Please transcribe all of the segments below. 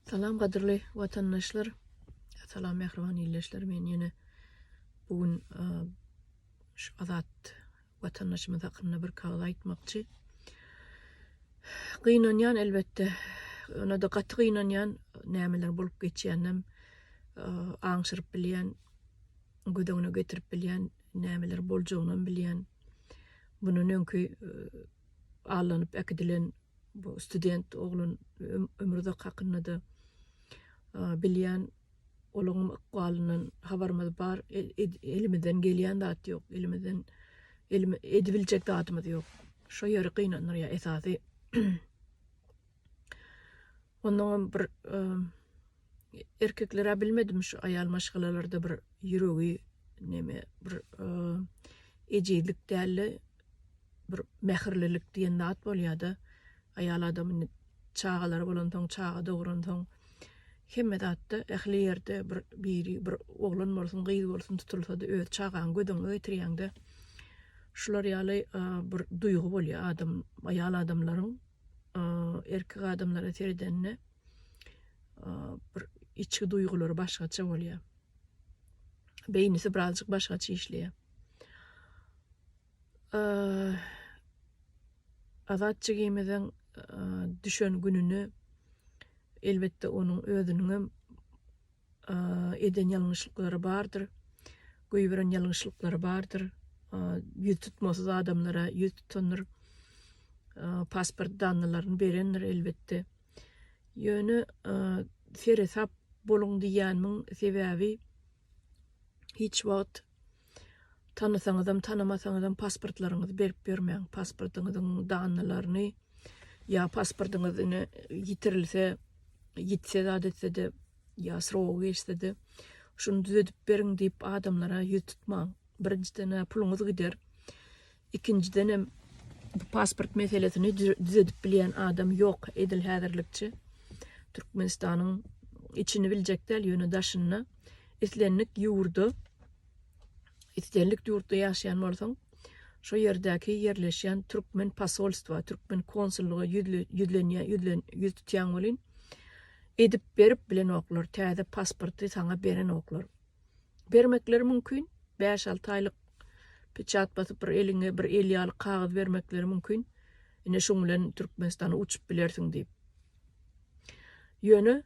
Salam gadyrly watandaşlar. Salam mähriban ildeşler. Men ýene bu gün e, şu azat watandaşymyz hakynda bir kagyz aýtmakçy. Gynanýan elbetde. Ona-da gaty gynanýan nämeler bolup geçýänem e, aňşyryp bilýän, göz öňüne getirip bilýän nämeler boljagyny bilýän. Bunun öňki e, allanyp äkidilen bu student oglan Ömürzak hakynda-da bilýän, olaňam ykbalyndan habarymyz bar, elimizden gelýän zat ýok, elimizden edibiljek zadymyz ýok. Şo ýeri gynandyrýar esasy. Onnoňam bir erkeklerä bilmedim şu aýal maşgalalarda bir ýüregi neme bir ejizlik dälde bir mähirlilik diýen zat bolýada aýal adamyny çagalary bolansoň çaga dogransoň hemme zatda ähli ýerde bir biri bir oglan bolsun gyz bolsun tutulsady öz çagaňy göz öňüňe getirýäňde şular ýaly bir duýgy bolýa adam aýal adamlaryň erkek adamlara seredende bir içki duýgulary başgaça bolýar. Beýnisi birazjyk başgaça işleýär. Azat jigimiziň düşen gününi elbetde onuň özüniň hem eden ýalňyşlyklary bardyr, goýberen ýalňyşlyklary bardyr, ýüz tutmasyz adamlara ýüz tutandyr, pasport danlaryny berendir elbetde. Ýöne seresap boluň diýýänmiň sebäbi hiç wagt Tanasaňyzam, tanamasaňyzam pasportlaryňyzy berip ýörmäň. Pasportyňyzyň danylaryny ýa pasportyňyz ine ýitirilse, ýitse zat etse-de ýa srogy geçse-de şuny düzedip beriň diýip adamlara ýüz tutmaň. Birinjiden-ä puluňyz gider. Ikinjidenem bu pasport meselesini düzedip bilýän adam ýok edil häzirlikçe. Türkmenistanyň içini biljek däl, ýöne daşyny. Islendik ýurda, islendik ýurtda ýaşaýan bolsaň, şo ýerdäki ýerleşýän türkmen posolstwa, türkmen konsullyga ýüz tutýaň welin, edip berip bilenoklar, täze pasporty saňa berenoklar. bermekleri mümkin. Bäş-alty aýlyk peçat basyp bir eliňe bir el ýaly kagyz bermekleri mümkin. Ine şuň bilen Türkmenistana uçup bilersiň diýip. Ýöne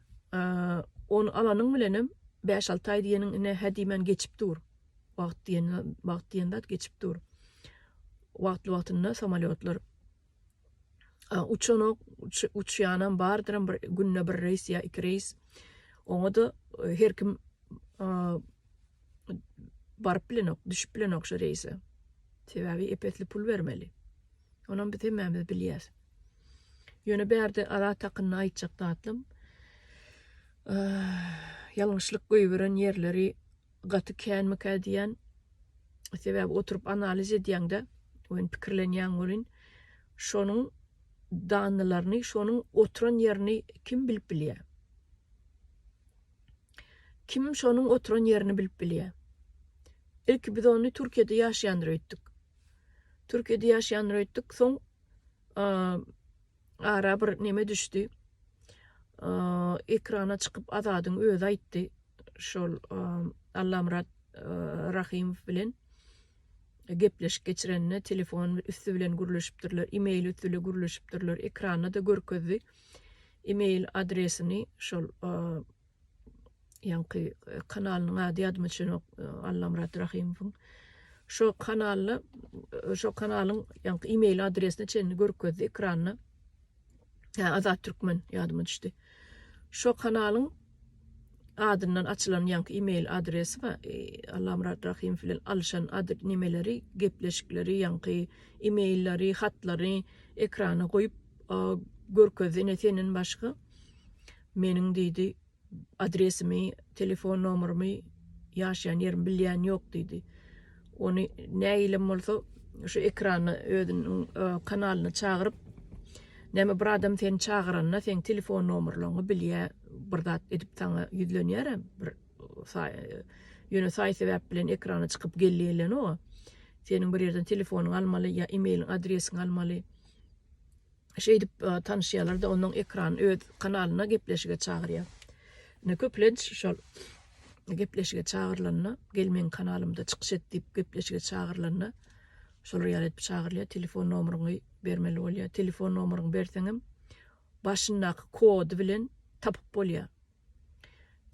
ony alanyň bilen hem bäş-alty aý diýeniň ine hä diýmän geçip dur. Wagt diýen wagt diýen zat geçip dur. Wagtly wagtynda samolýotlar uçanok, uçýanam bardyram bir günde bir reýs ýa iki reýs. Oňa da e, her kim baryp bilenok, düşüp bilenok şu reýse. Sebäbi epesli pul bermeli. Onam biz hemmämiz bilýäs. Ýöne bärde ara takynny aýtjak datlym. Ýalňyşlyk göýberen ýerleri gaty känmikä diýýän. Sebäbi oturyp analiz edýäňde, oýun pikirlenýäň welin, şonuň danlaryny, şonuň oturan ýerini kim bilip bilýär? Kim şonuň oturan ýerini bilip bilýär? Ilki biz ony Türkiýede ýaşaýandyr öýtdük. Türkiýede ýaşaýandyr öýtdük, soň ara bir neme düşdi. Ekrana çykyp Azadyň özi aýtdy. Şol Allamyrat Rahymow bilen gepleşik geçirenine telefon üstü bilen gürleşipdirler, e-mail üstü bilen gürleşipdirler. Ekranda da görkezdi. E-mail adresini şol Ýaňky kanalynyň ady ýadyma düşenok, Allamyrat Rahymowyň. Şo kanalda, şo kanalyň ýaňky e-mail adresini çenli görkezdi ekranda. Hä, Azat Türkmen ýadyma düşdi. Şo kanalyň adyndan açylan ýaňky e-mail adresi we Allamyrat Rahymow bilen alyşan nemeleri, gepleşikleri, ýaňky e-mailleri, hatlary ekrana goýup görkezdi. Ine, senden başga Meniň diýdi, adresimi, telefon nomerymy, ýaşaýan ýerimi bilýän ýok diýdi. Ony näilem bolsa şu ekrana özüniň kanalyna çagyryp, näme bir adam seni çagyranda seň telefon nomerleriňi bilýär, bir zat edip saňa ýüzlenýär hem bir ýöne saý sebäp bilen ekrana çykyp gelýelenok. Seniň bir ýerden telefonyňy almaly ýa emailiň adresiňi almaly. Şeýdip tanyşýarlar-da, ondan ekran öz kanalyna gepleşige çagyrýar. Ine, köplenç şol gepleşige çagyrylanda, gel meň kanalymda çykyş et diýip gepleşige çagyrylanda, şolar ýaly edip çagyrylýar, telefon nomeryňy bermeli bolýar. Telefon nomeryňy berseňem, başyndaky kody bilen tapyp bolýar.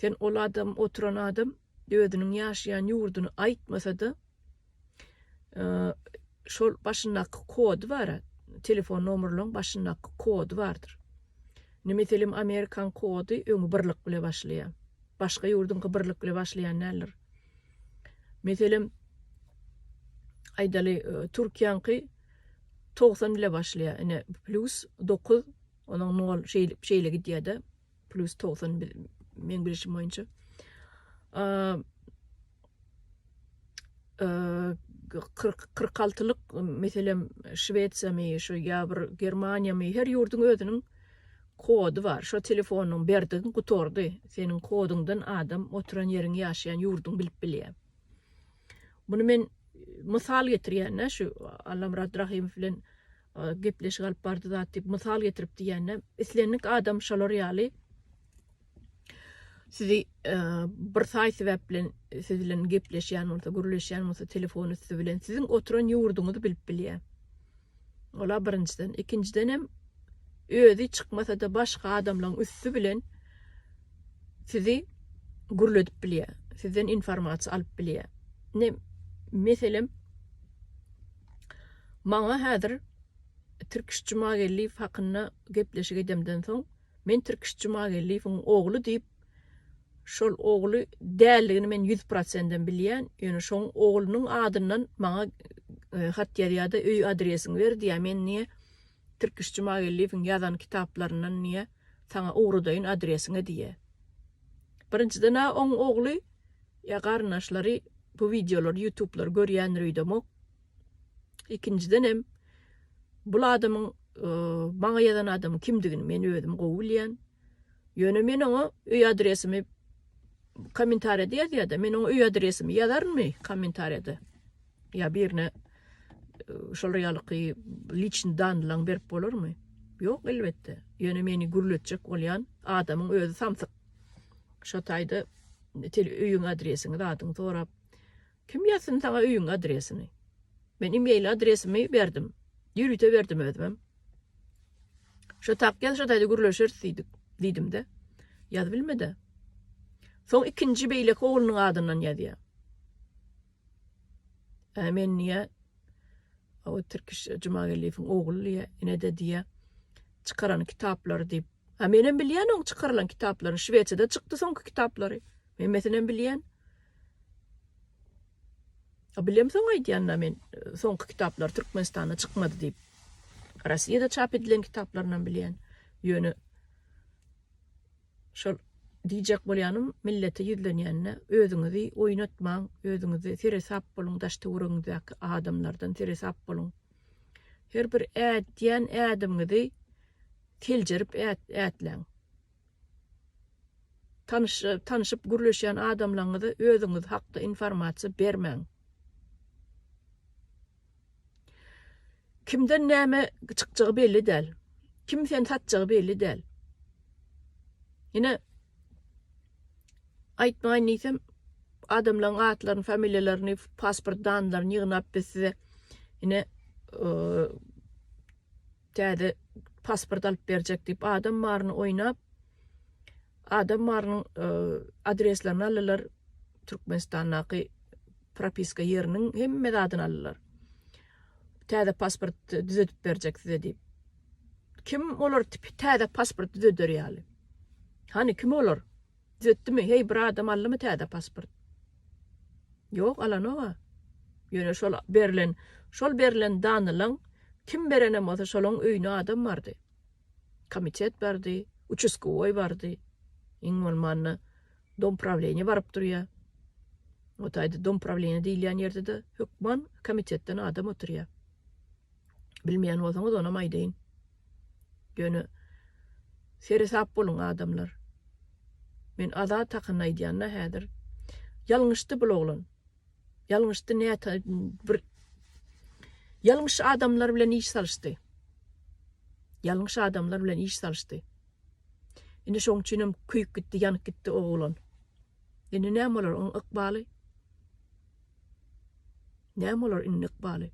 Sen ol adam oturan adam özüniň ýaşaýan ýurduny aýtmasada şol başyndaky kody bara telefon nomerlaň başyndaky kody bardyr. Ne meselem Amerikan kody öňi birlik bile başlaýa. Başga ýurduňky birlik bile başlaýan däldir. Meselem aýdaly Türkiýäňki 90 bile başlaýa. Ine plus 9 onuň 0 şeýle şeýle gidýäde. Plus togsan meň bilişim boýunça. Kyrk kyrk altylyk meselem Şwesiýamy, şu ýa bir Germaniýamy, her ýurduň özüniň kody bar. Şo telefonyň berdigiň gutardy. Seniň kodyňdan adam oturan ýeriň ýaşaýan ýurduň bilip bilýär. Bunu men mysal getirýän-dä şu Allamyrat Rahimow bilen gepleşik alyp bardy zat diýip mysal getirip diýende islendik adam şolar ýaly sizi e, bir saý sebäp bilen siz bilen gepleşýän bolsa gürleşýän bolsa telefon üstü bilen siziň oturan ýurduňyzy bilip bilýär ola birinjiden ikinjiden hem özi çykmasa da başga adamlaryň üstü bilen sizi gürledip bilýär sizden informasiýa alyp bilýär ne meselem Maňa häzir Tirkiş Jumageldiýew hakynda gepleşik edemden soň, men Tirkiş Jumageldiýewiň ogly diýip, şol ogly däldigini men ýüz prosendem bilýän, ýöne şoň oglunyň adyndan maňa hat ýazýar-da, öý adresiňi ber diýýär, men diýýär, Tirkiş Jumageldiýewiň ýazan kitaplaryndan diýe saňa ugradaýyn adresiňe diýe. Birinjiden-ä oň ogly ýa garyndaşlary bu wideolary ýutublary görýändir öýdemok. Ikinjiden hem bul adamyň maňa ýazan adamyň kimdigini men özüm gowy bilýän. Ýöne men oňa öý adresimi kommentariýada ýazýada men oňa öý adresimi ýazarynmy kommentariýada. Ýa birine şol realyky liçni danylaň berip bolarmy? Ýok elbetde. Ýöne meni gürletjek bolýan adamyň özi samsyk. Şo taýda tel öýüň adresiňi zadyňy sorap. Kim ýazsyn saňa öýüň adresini? Men e-mail adresimi berdim. Ýörite berdim özüm. Şo tak ýaz şo taýda gürleşeris diýdik. Diýdim-de. Ýaz bilmedi. Soň ikinji beýleki oglunyň adyndan ýazýar. Ä men diýä, o Tirkiş Jumageldiýewiň ogly diýä, ine-de diýä, çykaran kitaplary diýip. Ä menem bilýän oň çykarylan kitaplaryny, Şwesiýada çykdy soňky kitaplary. Hemmesinem bilýän. A bilem soň aýdýan-da men, soňky kitaplary Türkmenistanda çykmady diýip. Rossiýada çap edilen kitaplarynam bilýän. Ýöne Şol diýjek bolýanym, millete ýüzlenýände özüňizi oýnatmaň, özüňizi seresap boluň, daş-töweregiňizdäki adamlardan seresap boluň. Her bir ädýän ädimiňizi seljerip ätläň. Tanyş tanyşyp gürleşýän adamlaňyza özüňiz hakda informasiýa bermäň. Kimden näme çykjagy belli däl. Kim seni satjagy belli däl. Ine aýtmaýyn diýsem adamlaryň atlaryny, familiýalaryny, pasport danlaryny ýygnap biz size ine Täze pasport alyp berjek diýip adam maryny oýnap, adam marynyň adreslerini aldylar, Türkmenistandaky propiska ýeriniň hemme zadyny aldylar. Täze pasport düzedip berjek size diýip. Kim olar täze pasport düzeder ýaly? Hany kim olar? Zetdimi heý bir adam aldymy täze pasport. Ýok alanoga. Ýöne şol berlen şol berlen danylaň kim berenem bolsa şolaň öýüne adam bardy. Komitet bardy, uçuskowoý bardy. Iň bolmanda dompravleniýe baryp durýa. O taýda dompravleniýe diýilýän ýerde-de hökman komitetden adam oturýa. Bilmeýän bolsaňyz onam aýdaýyn. Ýöne seresap boluň adamlar. Men Azat hakynda aýdýanda häzir ýalňyşdy bul oglan. Ýalňyşdy näta bir ýalňyş adamlar bilen iş salyşdy. Ýalňyş adamlar bilen iş salyşdy. Indi şoň üçin hem köýüp gitdi, ýanyp gitdi o oglan. Indi näme bolar oň ykbaly? Näme olar indi ykbaly?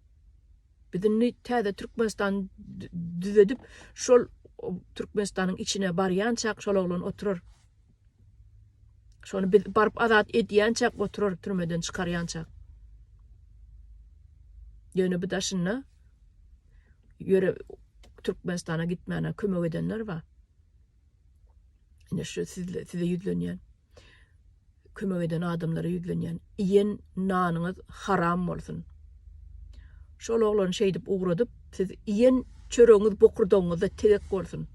Biz indi täze Türkmenistany düzedip, şol Türkmenistanyň içine barýançak şol oglan oturar. Şony biz baryp azat edýänçäk oturar türmeden çykarýançak. Ýöne bu daşynda ýöre Türkmenistana gitmäne kömek edenler bar. Ine şu sizle size ýüzlenýän. kömek eden adamlara ýüzlenýän. Iýen nanyňyz haram bolsun. Şol oglany şeýdip ugradyp, siz iýen çöregiňiz bokurdagyňyzda tegek bolsun.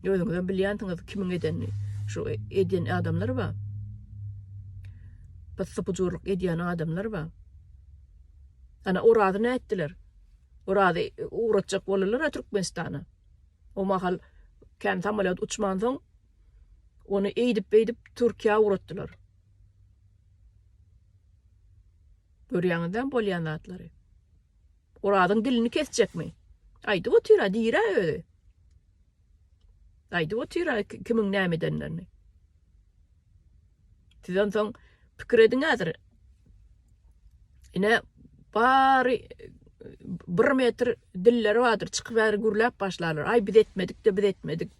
Özüňizem bilýänsiňiz kimiň edenini. Şu eden adamlar bar. Pyssy-pyjurlyk edýän adamlar bar. Ana Orazy nätdiler? Orazy ugratjak boldular-a Türkmenistana. O mahal kän samolet uçman soň Ony eýdip-beýdip Türkiýä ugratdylar. Görýäňizem bolýan zatlary. Orazyň dilini kesjekmi? Aýdyp otyra, diýrä özi. Aýdyp otyra kimiň näme edenlerini. Siz onsoň pikir ediň häzir. Ine bary bir metr dilleri bardyr, çykyp bäri gürläp başlarlar. Aý biz etmedik-de, biz etmedik.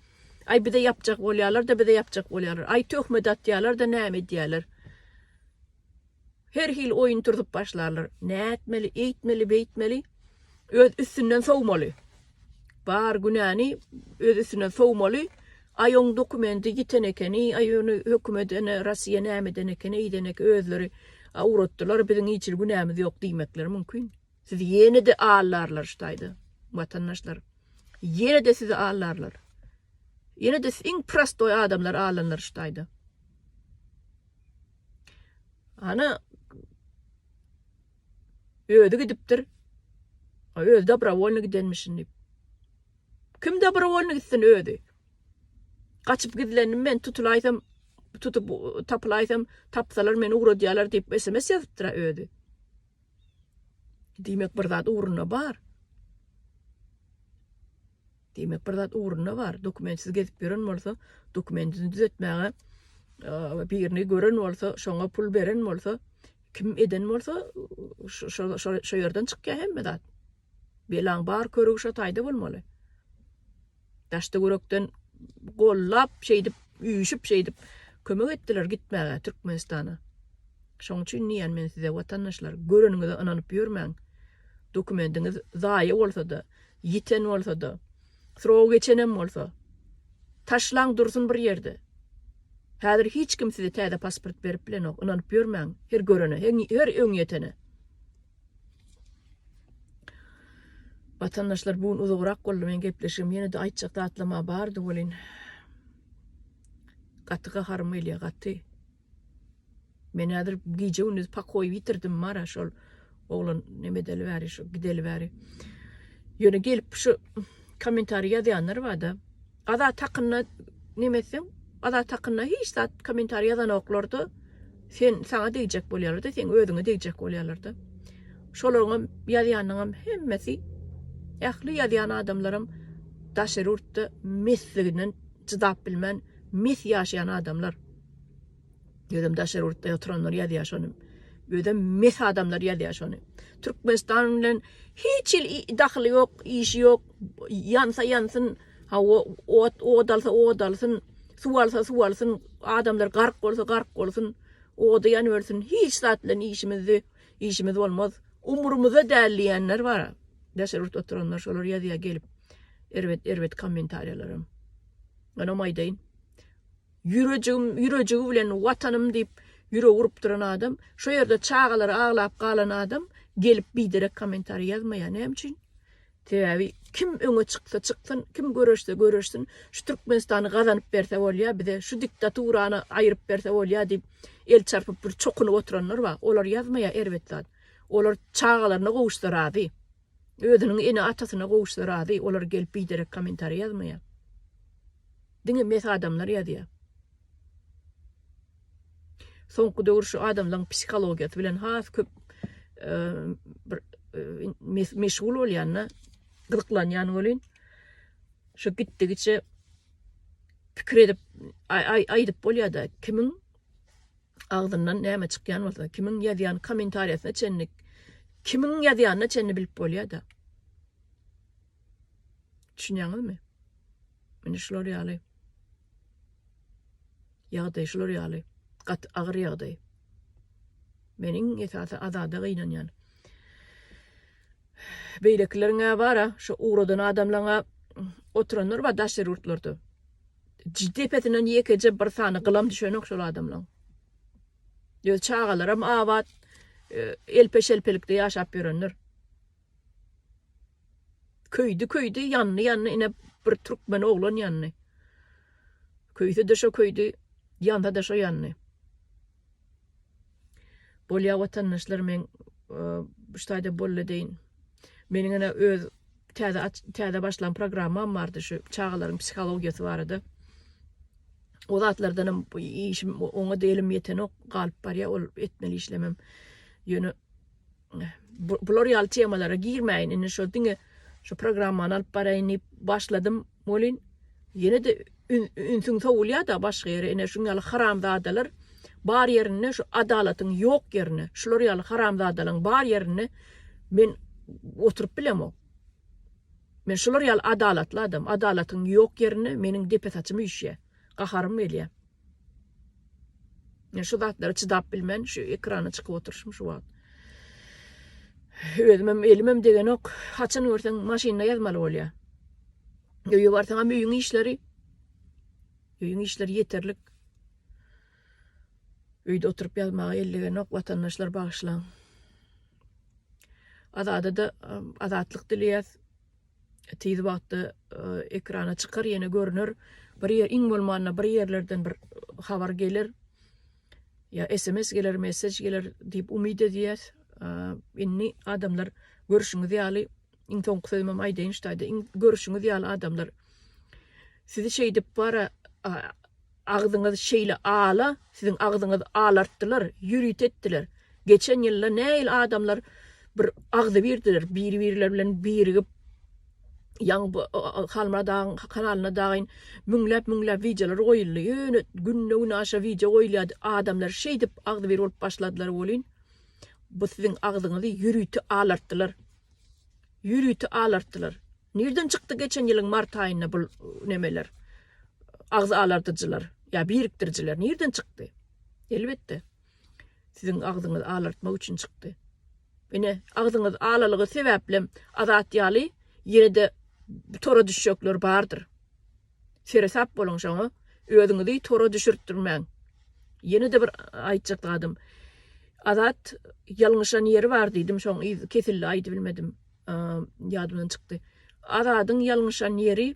Aý bize ýapjak bolýalar-da, bize ýapjak bolýalar. Aý töhmet atýalar-da, näme edýäler. Her hili oýun turzup başlarlar. Nätmeli, eýtmeli, beýtmeli. Öz üstünden sowmaly. Bar günäni öz üstünden sowmaly. Aý oň dokumendi ýiten ekeni, aý ony hökümet ene Russiýa näme eden ekeni, eýden ekeni, özleri awratdylar, biziň hiç hili günämiz ýok diýmekleri mümkin. Sizi ýene-de allarlar şu taýda, watandaşlar. Ýene-de sizi allarlar. Ýene-de siz iň prostoý adamlar allanlar şu taýda. Ana özi gidipdir. Özi dobrovolny gidenmişin diýip. Kim dobrovolny gitsin özi? Gaçyp gizlendim men tutulaýsam, tutup tapylaýsam, tapsalar meni ugradýarlar diýip SMS ýazypdyr özi. Diýmek bir zat ugruna bar. Diýmek bir zat ugruna bar. Dokumentsiz gezip ýören bolsa, dokumentini düzetmäge birini gören bolsa, şoňa pul beren bolsa, kim eden bolsa, şo ýerden çykýar hemme zat. Belaň bar körügi şo taýda bolmaly. Daşda görekden gollap şeýdip üýşüp şeýdip kömek etdiler gitmäge Türkmenistana. Şoň üçin diýýän men size watandaşlar göreniňize ynanyp ýörmäň. Dokumendiňiz zaýa bolsada, ýiten bolsada, srogy geçenem bolsa taşlaň dursun bir ýerde. Häzir hiç kim size täze pasport berip bilenok ynanyp ýörmäň her görene, her öňýetene. Watandaşlar bu gün uzagrak boldy men gepleşigim ýenede aýtjak zatlamam bardy welin gaty gaharym gelýär gaty. Men häzir gije gündüz pakoýy bitirdim mara şol oglan neme edeli bäri şu gideli bäri. Ýöne gelip şu kommentariý ýazýanlar bada. Azat hakynda neme etseň Azat hakynda hiç zat kommentariý ýazanoklarda sen saňa degjek bolýarlarda seň özüňe degjek bolýarlarda şolaryňam ýazýanyňam hemmesi ähli ýazýan adamlaram daşary ýurtda mesliginden çydap bilmän mes ýaşaýan adamlar. Özem daşary ýurtda oturanlar ýazýar şony. Özem mes adamlar ýazýar şony. Türkmenistan bilen hiç il dahyly ýok, işi ýok. Ýansa ýansyn, hawa, ot, ot alsa ot alsyn, suw alsa suw alsyn, adamlar gark bolsa gark bolsyn, ody ýanyp ölsün. Hiç zat bilen işimizdi, işimiz bolmaz. Umurymyzda däl diýenler bar. Daşary ýurtda oturanlar şolar ýazýar gelip. Erbet, erbet kommentariýalaram. Ýöne maýdaýyn. Ýürejigim ýürejigi bilen Watanym diýip ýürek urup duran adam, şo ýerde çagalary aglap galan adam gelip biderek kommentariý ýazmaýar. Näme üçin? Sebäbi kim öňe çyksa çyksyn, kim göreşse göreşsin, şu Türkmenistany gazanyp berse bolýar, bize şu diktaturany aýryp berse bolýar diýip el çarpyp bir çokunyp oturanlar bar. Olar ýazmaýar erbet zat. Olar çagalaryna gowuşsa razy. Özüniň ene atasyna gowuşsa razy olar gelip biderek komentariý ýazmaýa. Diňe mes adamlar ýazýa. Soňky döwür şu adamlaň psihologiýasy bilen has köp bir meşgul bolýanda gyzyklanýan welin şu gitdigiçe pikir edip aýdyp bolýada kimiň Agzyndan näme çykýan bolsa, kimiň ýazýan kommentariýasyna çenli, kimiň ýazýanyna çenli bilip bolýa-da. Düşünýäňizmi? Indi şular ýaly. Ýagdaý şular ýaly. Gat agyr ýagdaý. Meniň esasy azada gynanýan. Beýlekileriň-ä bara, şu ugradan adamlaryň-ä oturanlar bar daşary ýurtlarda. depesinden ýekeje bir sany gylam düşenok şol adamlaň. Öz çagalaram abat, e, elpe-şelpelikde ýaşap ýörenler. Köýdi köýdi, ýandy ýandy, ine bir türkmen oglan ýandy. Köýse de şo köýdi, ýanda da şo ýandy. Bolýa watandaşlar men bu ştaýda bolly deýin. Meniň ene öz täze täze başlan programmam bardy şu çagalaryň psihologiýasy barada. O zatlardan hem işim oňa delim ýetenok galyp barýa ol etmeli işlemem. Ýöne bular ýaly temalara girmäýin indi şo diňe şu programmany alyp baraýyn diýip başladym welin ýene de ünsüň sowulýar da başga ýere ine şuň ýaly haramzadalar bar ýerinde şu adalatyň ýok ýerinde şular ýaly haramzadalaryň bar ýerinde men oturyp bilemok men şular ýaly adalatly adam adalatyň ýok ýerinde meniň depe saçym üşýär gaharym gelýär Men şu zatlara çydap bilmen, şu ekrana çykyp oturyşym şu wagt. Özümem elimem degenok. Haçan görseň maşynda ýazmaly bolýar. Öýe barsaňam öýüň işleri. Öýüň işleri ýeterlik. Öýde oturyp ýazmaga ellegenok watandaşlar bagyşlaň. Azada da azatlyk dileýäs. tiz wagtda ekrana çykar ýene görüner bir ýer iň bolmanda bir ýerlerden bir habar geler ýa sms geler mesej geler diýip umyt edýäs indi adamlar görüşüňiz ýaly iň soňky sözümem aýdaýyn ştaýda iň görüşüňiz ýaly adamlar sizi şeýdip bara Agzyňyz şeýle ala siziň agzyňyz alartdylar ýürüt etdiler geçen ýylda näil adamlar bir agzybirdiler biri birler bilen birigip ýaňy bu halmyrat agaň kanalyna dagyn müňläp müňläp wideolar goýuldy ýöne günde güne aşa wideo goýulýady adamlar şeýdip agzybir bolup başladylar welin bu siziň agzyňyzy ýürüti alartdylar ýürüti alartdylar. Nirden çykdy geçen ýylyň mart aýynda bul nemeler agzy alardyjylar ýa birikdirijiler nirden çykdy? Elbetde siziň agzyňyzy alartmak üçin çykdy. Ine agzyňyz alalygy sebäplem Azat ýaly ýene-de tora düşjekler bardyr. Seresap boluň şoňa özüňizi tora düşürtdirmäň. Ýene-de bir aýtjak zadym Azat ýalňyşan ýeri bar diýdim şoň yz kesildi aýdybilmedim. ýadymdan çykdy. Azadyň ýalňyşan ýeri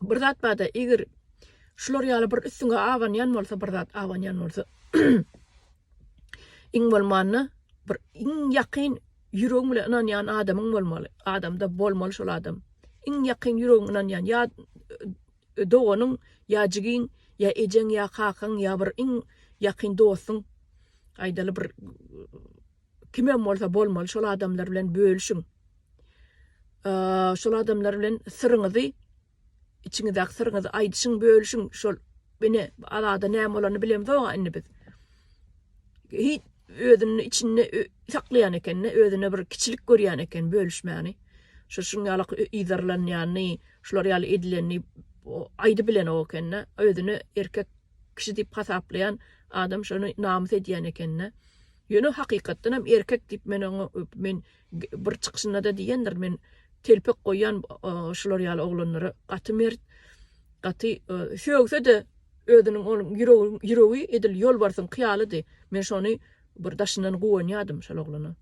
bir zat bada eger şular ýaly bir üstüňe abanýan bolsa bir zat abanýan bolsa iň bolmanda bir iň ýakyn ýüregiň bilen ynanýan adamyň bolmaly adamda bolmaly şol adam iň ýakyn ýüregiň ynanýan ýa e, doganyň ýa jigiň ýa ejeň ýa kakaň ýa bir iň ýakyn dostuň aýdaly bir Kimem bolsa bolmaly şol adamlar bilen bölüşiň. Şol adamlar bilen syryňyzy içiňizdäki syryňyzy aýdyşyň bölüşiň şol ine azada näme bolany bilemzok indi biz. Hiç özünde içinde saklayan ekende özüne bir kiçilik görýän eken bölüşmäni. Şu şun ýaly ýyzarlanýany, şular ýaly edileni aýdy bilen o ekende özüne erkek kişi diýip hasaplaýan adam şony namys edýän ekende. Ýöne hakykatdanam erkek diýip men oňa men bir çykyşynda-da diýendirin men telpek goýýan şular ýaly oglanlara gaty mert, gaty sögse-de özüniň ol ýüregi edil ýolbarsyňky ýalydy. Men şony bir daşyndan guwanýardym şol oglana.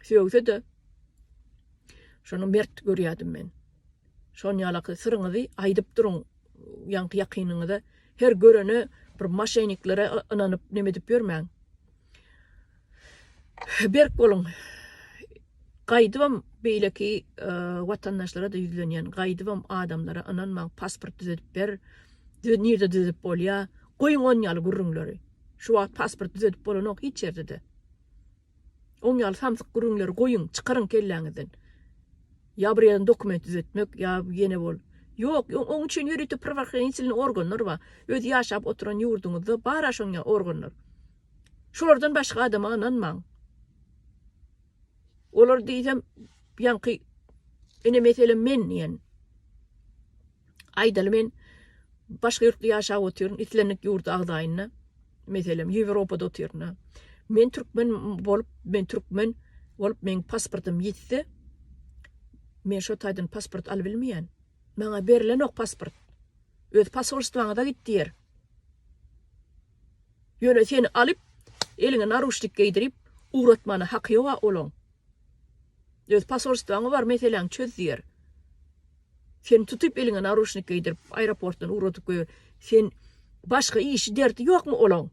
Sögse-de şony mert görýärdim men. Şon ýalaky syryňyzy aýdyp duruň ýaňky ýakynyňyza. Her görene bir maşeniklara ynanyp neme edip ýörmäň. Berk boluň. Gaýdybam beýleki watandaşlara da ýüzlenýän. Gaýdybam adamlara ynanmaň, pasport düzedip ber. Düz nirde düzedip bolýa? Goýuň on ýaly gürrüňleri. Şu wagt pasport düzedip bolanok hiç ýerde-de. Oň ýaly samsyk gürrüňleri goýuň, çykaryň kelläňizden. Ýa bir ýerden dokument düzetmek, ýa ýene bol. Ýok, oň üçin ýörite prwahranitelny organlar bar. Öz ýaşap oturan ýurduňyzda bar-a şoň ýaly organlar. Şolardan başga adama ynanmaň. Olar diýsem, ýaňky ine meselem men diýen. Aýdaly men başga ýurtda ýaşap otyryn, islendik ýurda agzaýynda, meselem, Ýewropada otyryn-a. Men türkmen bolup, men türkmen bolup, meň pasportym ýitse, men şo taýdan pasport alybilmeýän. Maňa berilenok pasport. Öz posolstwaňyza git diýer. Ýöne seni alyp, eliňe naruçnik geýdirip, ugratmana haky ýog-a olaň. Öz posolstwaňy bar meseläňi çöz diýer. Seni tutup eliňe naruşnik geýdirip aeroportdan ugradyp goýar. Sen başga işi derdi ýokmy olaň?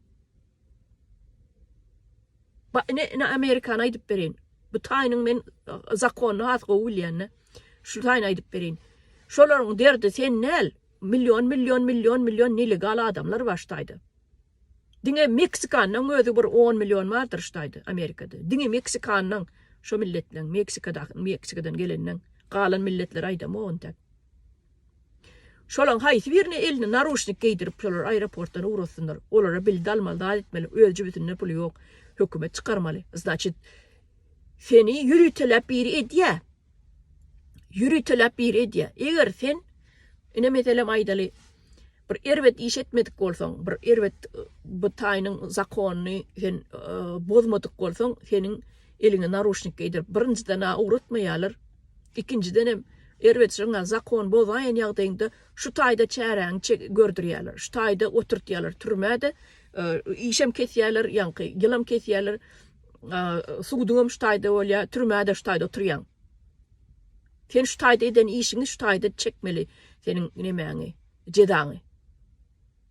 Ba ine ine Amerikany aýdyp bereýin. Bu taýynyň men zakonyny has gowy bilýän-de. Şu taýyny aýdyp bereýin. Şolaryň derdi sen näl? Million million million million nelegal adamlar bar şu taýda. Diňe Meksikanyň özi bir on million bardyr şu taýda Amerikada. Diňe Meksikanyň şo milletleň Meksikadaky Meksikadan geleniň galan milletleri aýdamok intäk. Şolaň haýsy birine eline naruşnik geýdirip şolar aeroportdan ugratsynlar. Olara bildi almaly zat etmeli öz jübütinde puly ýok. Hökümet çykarmaly. Znaçit seni ýöriteläp biri edýä. Ýöriteläp biri edýä. Eger sen ine meselem aýdaly Bir erbet iş etmedik bolsaň, bir erbet bu taýynyň zakonyny sen bozmadyk bolsaň, seniň eliňe naruşnik geýdirip, birinjiden-ä ugratmaýarlar, ikinjiden hem erbet şoňa zakon bozaýan ýagdaýyňda şu taýda çäräňi çe gördürýärler, şu taýda oturtýarlar türmä-de, işem kesýärler, ýaňky ýylam kesýärler, suduňam şu taýda bolýar, türmä-de şu taýda oturýaň. Sen şu taýda eden işiňi şu taýda çekmeli seniň nemäňi jezaňy.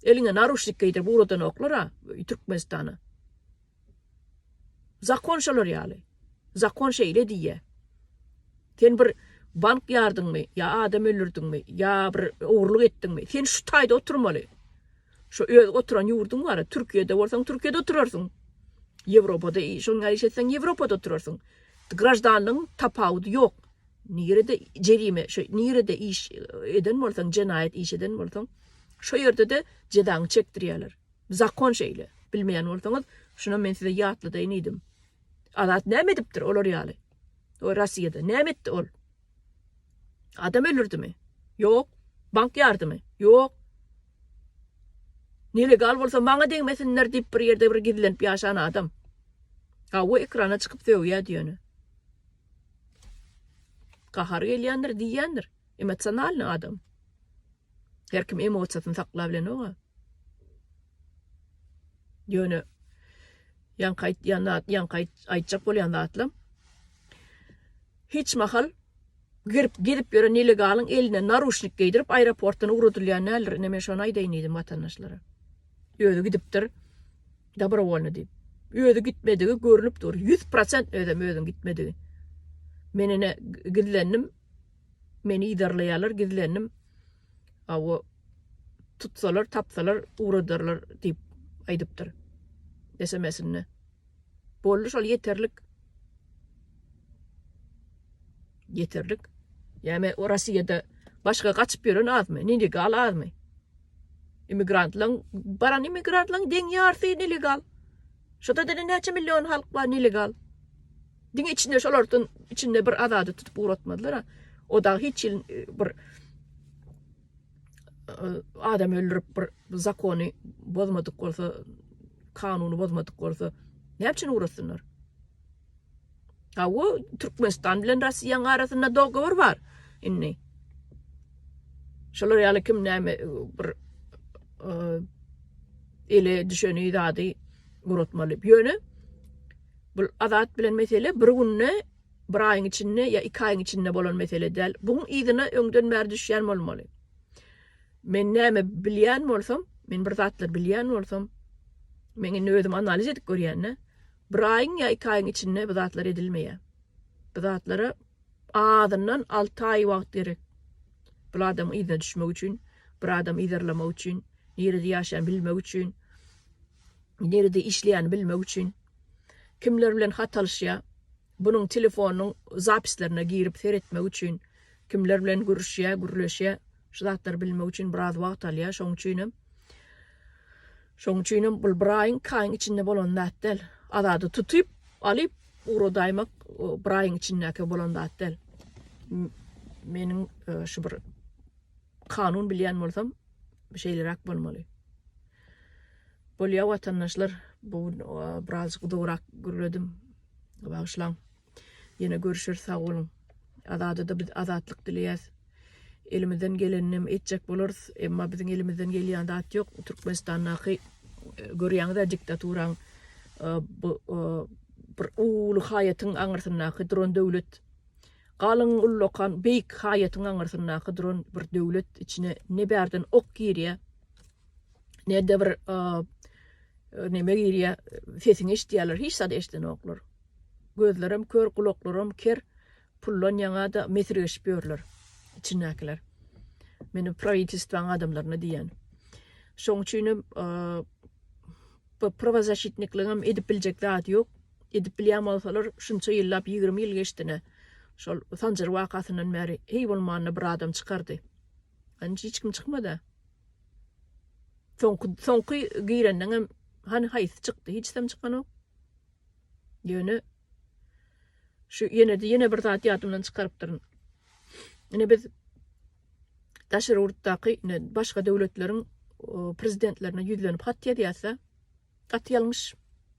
Eliňe naruşnik geýdirip ugradanoklar a Türkmenistana. Zakon şolar ýaly. Zakon şeýle diýýä. Sen bir bank ýardyňmy ýa adam öldürdiňmi ýa bir ogurlyk etdiňmi sen şu taýda oturmaly. Şu öz oturan ýurduň bar, Türkiýede bolsaň Türkiýede oturarsyň. Ýewropada şoň ýaly iş etseň Ýewropada oturarsyň. Graždanlygyň tapawudy ýok. Nirede jerime, şo nirede iş eden bolsaň, jenaýat iş eden bolsaň, şo ýerde-de jezaňy çekdirýärler. Zakon şeýle. Bilmeýän bolsaňyz, şunam men size ýatladaýyn iýdim. Azat näme edipdir olar ýaly? O Rossiýada näme etdi ol? Adam öldürdimi? Ýok. Bank ýardymy? Ýok. Nelegal bolsa maňa degmesinler diýip bir ýerde bir gizlenip ýaşan adam. Gawy ekrana çykyp sögýä diýeni. Gahary gelýändir diýýändir. Emosionalny adam. Her kim emosiýasyny sakla bilenok-a. Ýöne ýaňky aýtýan zat, ýaňky aýtjak bolýan zatlam hiç mahal girip gezip ýören nelegalyň eline naruşnik geýdirip aeroportdan ugradylýan däldir. Ine men şony aýdaýyn diýdim watandaşlara. Özi gidipdir dobrowolny diýip. Özi gitmedigi görnüp dur. 100% özem özüň gitmedigi. Men ine gizlendim. Meni idarlaýarlar gizlendim. Awo tutsalar, tapsalar ugradarlar diýip aýdypdyr SMS-inde. Boldy şol ýeterlik. Ýeterlik. Ýa-me o Russiýada başga gaçyp ýören azmy, nelegal azmy? Immigrantlaryň, baran immigrantlaryň deň ýarsy nelegal. Şoda diňe näçe million halk bar nelegal. Diňe içinde şolardan içinde bir azady tutup ugratmazlar. O da hiç ýyl e, bir adam öldürip bir zakony bozmadyk bolsa, kanuny bozmadyk bolsa, näme üçin ugrasynlar? Ha, o Türkmenistan bilen Russiýanyň arasynda dogovor bar. Indi şolar ýaly kim näme bir e, ele düşeni zady uratmaly. Ýöne bu azat bilen mesele bir günde Bir aýyň içinde ýa iki aýyň içinde bolan mesele däl. Buň yzyna öňden bäri düşýän bolmaly. Men näme bilýän bolsam, men bir zatlar bilýän bolsam, men indi özüm analiz edip görýän-dä. Bir aýyň ýa iki aýyň içinde bu zatlar edilmeýär. Bu zatlara azyndan alty aý wagt gerek. Bu adamyň yzyna düşmek üçin, bir adamy yzarlamak üçin, nirede ýaşaýan bilmek üçin, nirede işleýän bilmek üçin. Kimler bilen hat alyşýa? Bunuň telefonynyň zapislerine girip seretmek üçin kimler bilen gürüşýä, gürleşýä? Şu zatlary bilmek üçin biraz wagt alýa. Şoň üçinem Şoň üçinem bul bir aýyň, iki aýyň içinde bolan zat däl. Azady tutyp, alyp ugradaýmak bir aýyň içindäki bolan zat däl. Meniň şu bir kanun bilýän bolsam şeýleräk bolmaly. Bolýa watandaşlar, bu gün birazjyk uzagrak gürledim. Bagyşlaň. Ýene görüşeris, sag boluň. Azada-da biz azatlyk dileýäs. Elimizden gelenini hem etjek bolarys, emma biziň elimizden gelýän zat ýok. Türkmenistandaky görýäňiz-ä diktaturaň bu bir uly haýatyň aňyrsyndaky duran döwlet. Galyň ullakan beýik haýatyň aňyrsyndaky duran bir döwlet içine ne bärden ok girýär, Nede bir neme girýär, sesiňi eşitýärler, hiç zat eşidenoklar. Gözlerim kör, gulaklarym ker, pullan ýaňa-da mesirgeşip ýörler içindäkiler. Meni prawitelstwaň adamlaryna diýýän. Şoň üçin hem bu prawazaşitnikligem edip biljek zat ýok. Edip bilýän bolsalar, şunça ýyllap 20 ýyl geçdine, şol Sanjar wakasyndan bäri heý bolmanda bir adam çykardy. Hany hiç kim çykmada. Soňky soňky girenden hem hany haýsy çykdy? Hiç kim çykanok. Ýöne şu ýene de ýene bir zat ýadymdan çykarypdyryn. Ine biz daşary ýurtdaky başga döwletleriň prezidentlerine ýüzlenip hat ýazýarsa, gaty ýalňyş.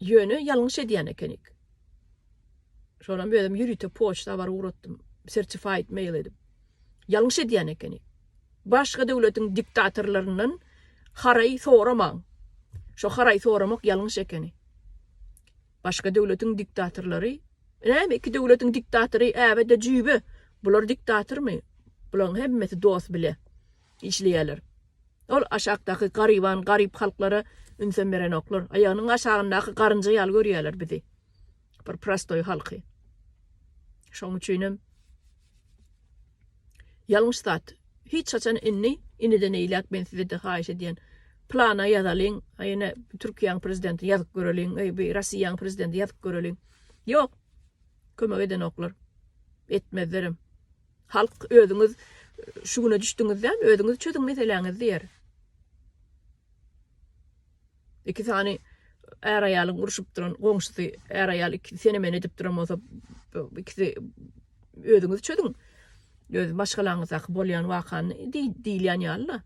Ýöne ýalňyş edýän ekenik. Şonam özüm ýörite poçta habar ugratdym, sertified mail edip. Ýalňyş edýän ekenik. Başga döwletiň diktatorlaryndan haraý soramaň. Şo haraý soramak ýalňyş ekeni. Başga döwletiň diktatorlary, näme iki döwletiň diktatory äbe-de jüýbe. Bular diktatormy? Bulaň hemmesi dost bile. işleýärler. Ol aşakdaky garyban, garyp halklara ünsem berenoklar. Aýagynyň aşagyndaky garynja ýaly görýärler bizi. Bir prostoý halky. Şoň üçinem ýalňyş zat. Hiç haçan indi, indiden eýläk men size-de haýyş edýän. Plana ýazalyň, a ýene Türkiýäň prezidenti ýazyp göreliň, eý bi Rossiýaň prezidenti ýazyp göreliň. Ýok. Kömek edenoklar. Etmezlerem. Halk özüňiz şu güne düşdüňizdämi, özüňiz çözüň meseläňizi diýer. Iki sany är-aýalyň urşup duran goňşusy, är-aýal iki sene-mene edip duran bolsa, ikisi özüňiz çözüň. Öz maşgalaňyzdaky bolýan wakany diýilýän ýaly-da.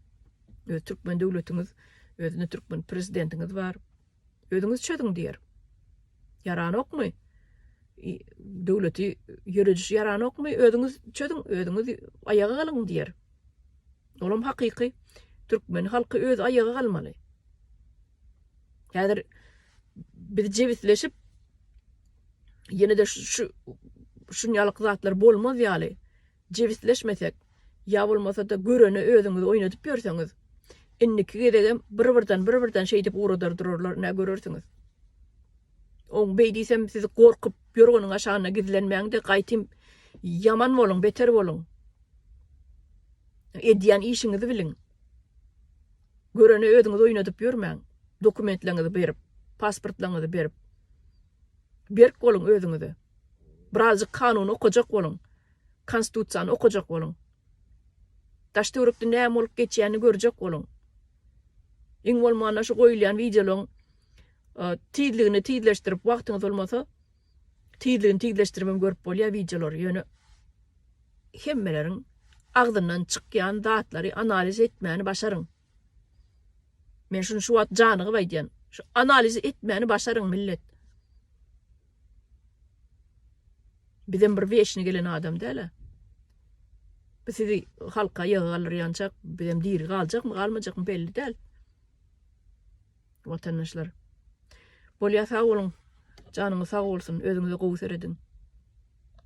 Öz türkmen döwletiňiz, özüne türkmen prezidentiňiz bar. Özüňiz çözüň diýer. Ýaranokmy? Döwleti ýörediş ýaranokmy? Özüňiz çözüň, özüňiz aýaga galyň diýer. Olam hakyky. Türkmen halky öz aýaga galmaly. Häzir biz jebisleşip ýene-de şu şunýalyk zatlar bolmaz ýaly. jebisleşmesek, ýa bolmasa-da görene özüňizi oýnadyp ýörseňiz, indiki gezegem bir-birden, bir-birden şeýdip ugradar durarlar, nä görersiňiz. Oň beý diýsem, siz gorkup ýorganyň aşagynda gizlenmäň-de, gaýtym ýaman boluň, beter boluň. Edýän işiňizi biliň. Görene özüňizi oýnadyp ýörmäň. Dokumentleriňizi berip, pasportlaryňyzy berip, berk boluň özüňize. Birazjyk kanuny okajak boluň. Konstitusiýany okajak boluň. Daş-töwerekde näme bolup geçýänini görjek boluň. Iň bolmanda şu goýulýan wideolaryň tizligini tizleşdirip, wagtyňyz bolmasa, tizligini tizleşdirip hem görüp bolýar wideolary. Ýöne hemmeleriň agzyndan çykýan zatlary analiz etmäni başaryň. Men şuny şu wagt janygyp aýdýan. Şu analizi etmäni başaryň millet. Bizem bir weşni gelen adam däl-ä. Biz sizi halka ýygy galdyrýançak, bizem diri galjakmy, galmajakmy belli däl. Watandaşlar. Bolýa sag boluň. Janyňyz sag bolsun. Özüňize gowy serediň.